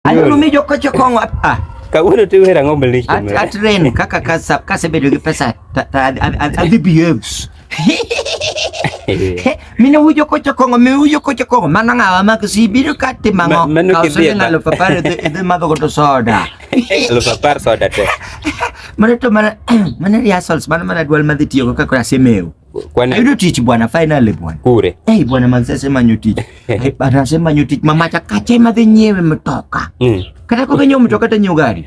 Aneno mi joko chokong ah. Kawuono ti wera ng'ombe lich. At at ren kaka kasa kasa bedo gi pesa ta ta adhi behaves. Mine wujo ko chokong mi wujo ko chokong mano ng'awa mak si biro ka timango. Mano ke bi. Kawuono lupa par idhi madho godo soda. Lupa par soda te. Mano to mana mana rehearsals mano mana dwal madhi tiyo kaka kora semeu. Kwani Ayudo tich bwana finally bwana. kure Eh bwana manze sema nyu tich. Eh, Bwana sema nyu tich mama chakache madhi nyiewe mtoka. Mm. Kata kwa kenyo mtoka ta nyiewo gari.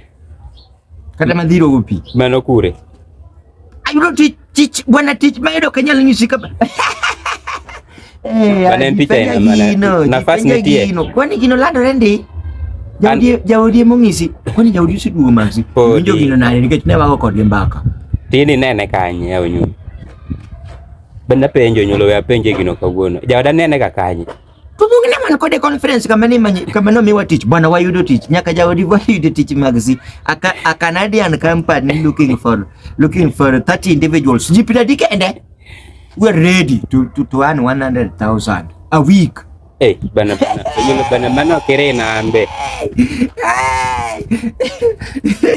Kata madhiro upi. mano kure Ayudo tich tich bwana tich mayudo kanyal nyisi kama. Eh, Bana mpicha ina maana. Nafasi ni tie. Kwani gino lando rendi? Jaudi jaudi mongisi. Kwani jaudi si duo manzi. Winjo gino nale nikech ne wako kod mbaka. Tini nene kanye ya unyu. Benda penjo nyulo ya penje gino kawuono. Jaoda nene ka kanye. Tubungi na mwana kode conference kama ni manyi kama no miwa teach bwana wa yudo teach nyaka jaodi wa yudo teach magzi aka a Canadian company looking for looking for 30 individuals jipita dikende We're ready to, to, to earn 100,000 a week. Hey, bana bana. Yule bana bana kere na ambe.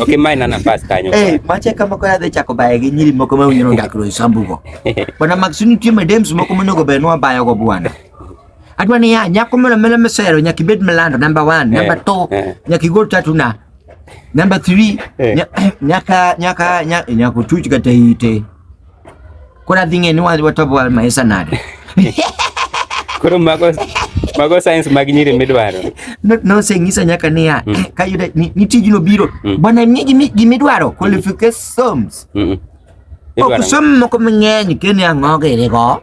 Okay, mine na nafasi kanyo. Hey, mache kama kwa the chako bae ginyiri moko ma unyiro ngakro isambugo. Bana maxini tie medems moko manogo benwa bayo go bwana. Adwa ni ya nyako mena mena mesero nyakibet melando number 1, number 2, nyakigol tatu na Number 3 eh. nyaka nyaka nyaka tuchika teite Kuna dhing'e ni wadhi watobo wal maisa nade. Koro mago mago science mag nyiri midwaro. No, no sengisa nyaka niya mm. Eh, ka yudo ni, ni tijno biro mm. bwana mi gi midwaro qualifications. Mm. -mm. Okusoma ko mang'eny kene ang'oge rego.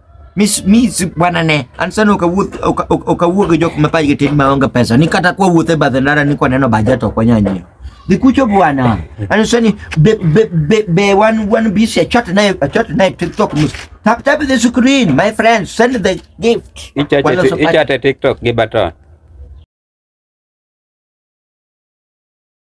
Mi mi bwana ne, ansana ukawuoth ukawuo gi jok mapaj gi tin maonge pesa. Ni kata kwa wuothe badhe ndara ni kwa neno bajet ok wanyanyio. Nikucho bwana. Ansani be be be be one one busy a chat naye a chat naye TikTok mus. Tap tap the screen my friend send the gift. Ichate TikTok gi baton.